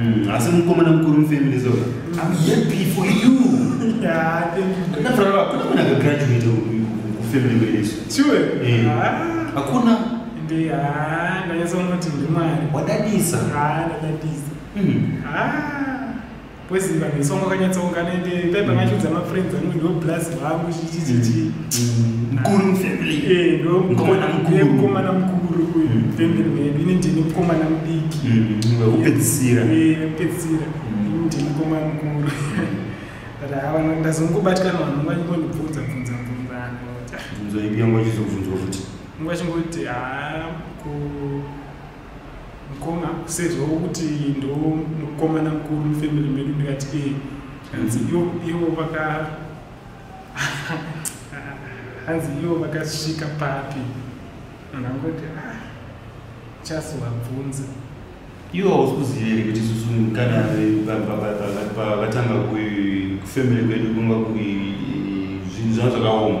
Mm, asi mukomana mukuru mufamily so mm. I'm happy for you. Yeah, thank you. Na fara kuna kuna ga graduate ku family wele so. Sure. Eh. Ah. Hakuna. Ndi ah, ndanyasa unoti ndi mwari. Wadadisa. Ah, ndadadisa. Mm. Ah. Kwezi vanhu isongo kanyatsa ungana ende paipa ngachudza mm. ma friends angu ndo blast vangu chichichichi. Mm. mkuru mufamily eh ndo mkomana mkuru eh, mkomana mkuru uyu mm. family man ini ndini mkomana mudiki mm, upedzisira eh upedzisira mm. ini ndini mkomana mkuru but hawa ndazongobatikana vanhu vangondibvunza bvunza bvunza anoti bvunzo ipi yangu achizobvunzwa futi nguva chingoti haa ku mkoma sezvo kuti ndo mukomana mkuru mufamily medu ndikati eh hanzi ivo vaka hanzi ivo vakasvika papi munhu angoti ah, chasi wabvunza ivo hausi kuziva here kuti susu kana vatanga kufemere kwedu kunga zvinhu zvanga zvakaoma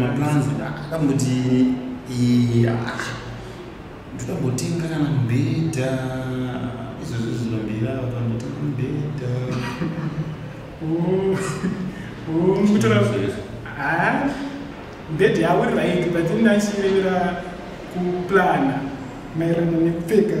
maplans akambuti ndokambotenga kana mubhedha izvozvo zvinomira vakambotenga mubhedha kutora mubhedha yavo iri right but ndachirevera kuplana maererano nekupfeka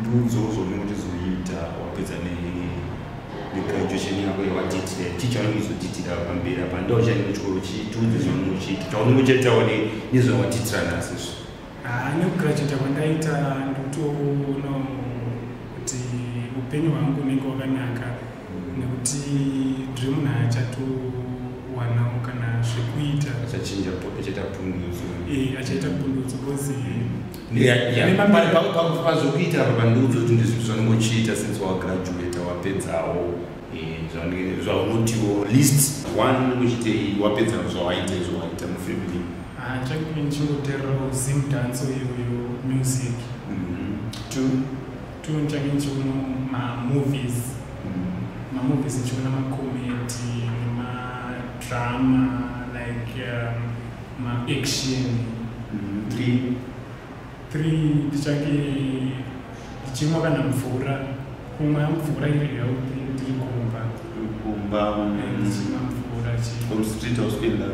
ndiudzewo zvaunenge uchizoita wapedza negraduation yako yawatitira ticha unenge uchizotiitira pamberi apa ndo uchaenda kuchikoro chitiudze zvaunenge uchiita chaunenge uchaitawo nezvawatitira nhasi izvo ah, nekugraduata kwandaita ndotoona kuti upenyu hwangu unenge wakanaka nekuti ndiri munhu achatowanawo kana zvekuita achaita pundutso eh, achaita pundutso bcause pazvokuitira papandiudza kuti ndizvii zvanongochiita since wagraduata wapedzawo zvaunotiwo list one unochitei wapedza zvawaita izvo waita mufamily ah, chakuinchikutererawo zim danso iyoyo music mm-hmm. two two nchakuinchikuno mamovies mm-hmm. mamovies nchikuna makomedi nemadrama like um, ma action mm, three three ndichange ndichimwa kana mvura kumwa mvura iri healthy ndiri kumba kumba ndichimwa mvura chii street hospital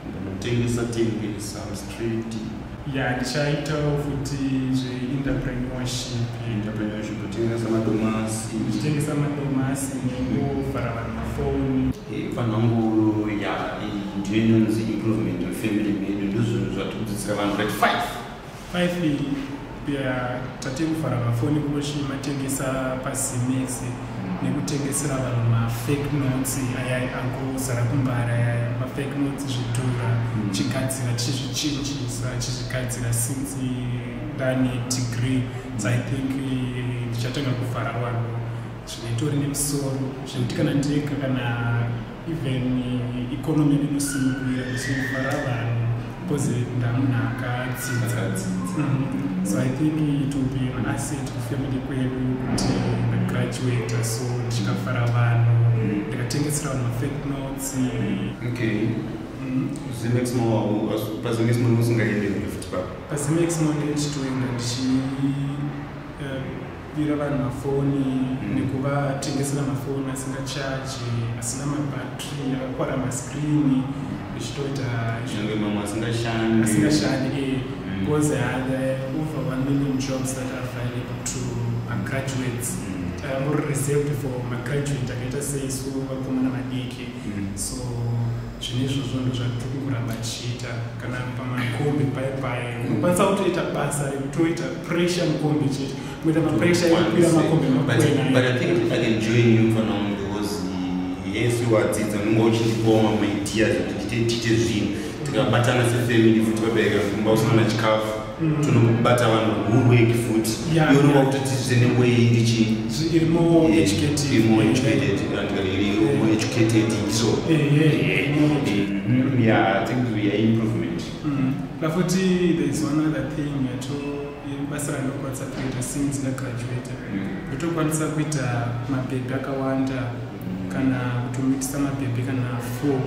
ndinotengesa tengesa mstreet ya ndichaitawo futi zveinterpreneurship entrepreneurship kutengesa madomasi ndichitengesa madomasi nekuvhara vanhu mafoni vanhu vangu ya ndiyo inonzi improvement wefamily medu ndozvinhu zvatikudzidzisa vanhu vati five five ya tatekuvhara mafoni kunochii matengesa pazimex nekutengesera vanhu mafake notes ayai angozara kumbara yaya mafake notes zvidhura hmm. chigadzira tichizvichinjisa tichizvigadzira since ndane degree so i think eh, ndichatanga kuvhara vanhu zvinoitori nemusoro zvekuti kana ndega kana even economy inosimukuira ichifara vanhu because ndamunhu akadzidza mm-hmm. so i think it will be an asset kufamily kwedu kuti ndagraduata so ndichikafara vanhu ndikatengesera vanhu mafake notes okay mm-hmm. zimexmonpazimexmonmusingaende futi pa pazimexmon ndichitoenda ndichi kupira vanhu mafoni mm. nekuvatengesera mafoni asina chaji asina mabatri akakwara maskrini zvichitoita zvinenge mamwe asingashandi asingashandi ee because mm. uh, the over one million jobs that are available to magraduates mm. uh, more reserved for magraduate akaita seisu vakomana vadiki mm. so zvine izvozvo ndo zvatiri kungoramba tichiita kana pamakombi paye paye unokwanisa kutoita basa rekutoita pressure mukombi chete kuita mapressure ekukwira makombi yes wadzidza unenge uchindipawo mamaideas kuti tiite zvinhu tikabatana sefamily futi vabereka kumba usina chikafu mm. tinokubata vanhu hurweki futi iyorova kuti tiite newei ndichiiaeducatedso yaimprovement pafuti mm. there is one other thing yato basa randokwanisa kuita since ndagraduata mm. ndotokwanisa kuita mabhebhi akawanda kana kutomitisa mabhebhi kana four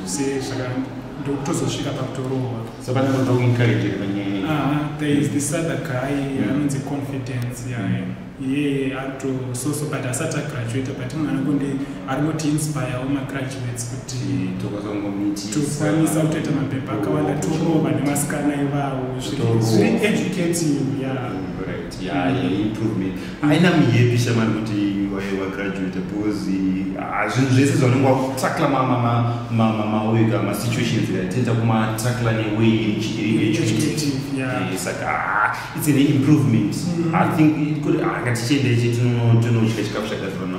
zvese zvakandokutozosvika pakutorohwa Saka ndinoda kuencourage panyaya iyi. Ah, there is this other guy mm. anonzi confidence mm. yeah. iye atososo but asati agraduata but munhu anokundi ari kuti inspirewo magraduates kuti mm, tokwanisa kutoita mapepa akawanda torova nemasikana ivawo zviri educating ya haina mihepisa mari kuti wagraduate because ah, zvinhu zvese zvaunenge wakutakla maweka masituations tenda kumatakla neway saka ah, its an improvement mm-hmm. i think ah, ngatichiendeche tinodya chikafu chakazivana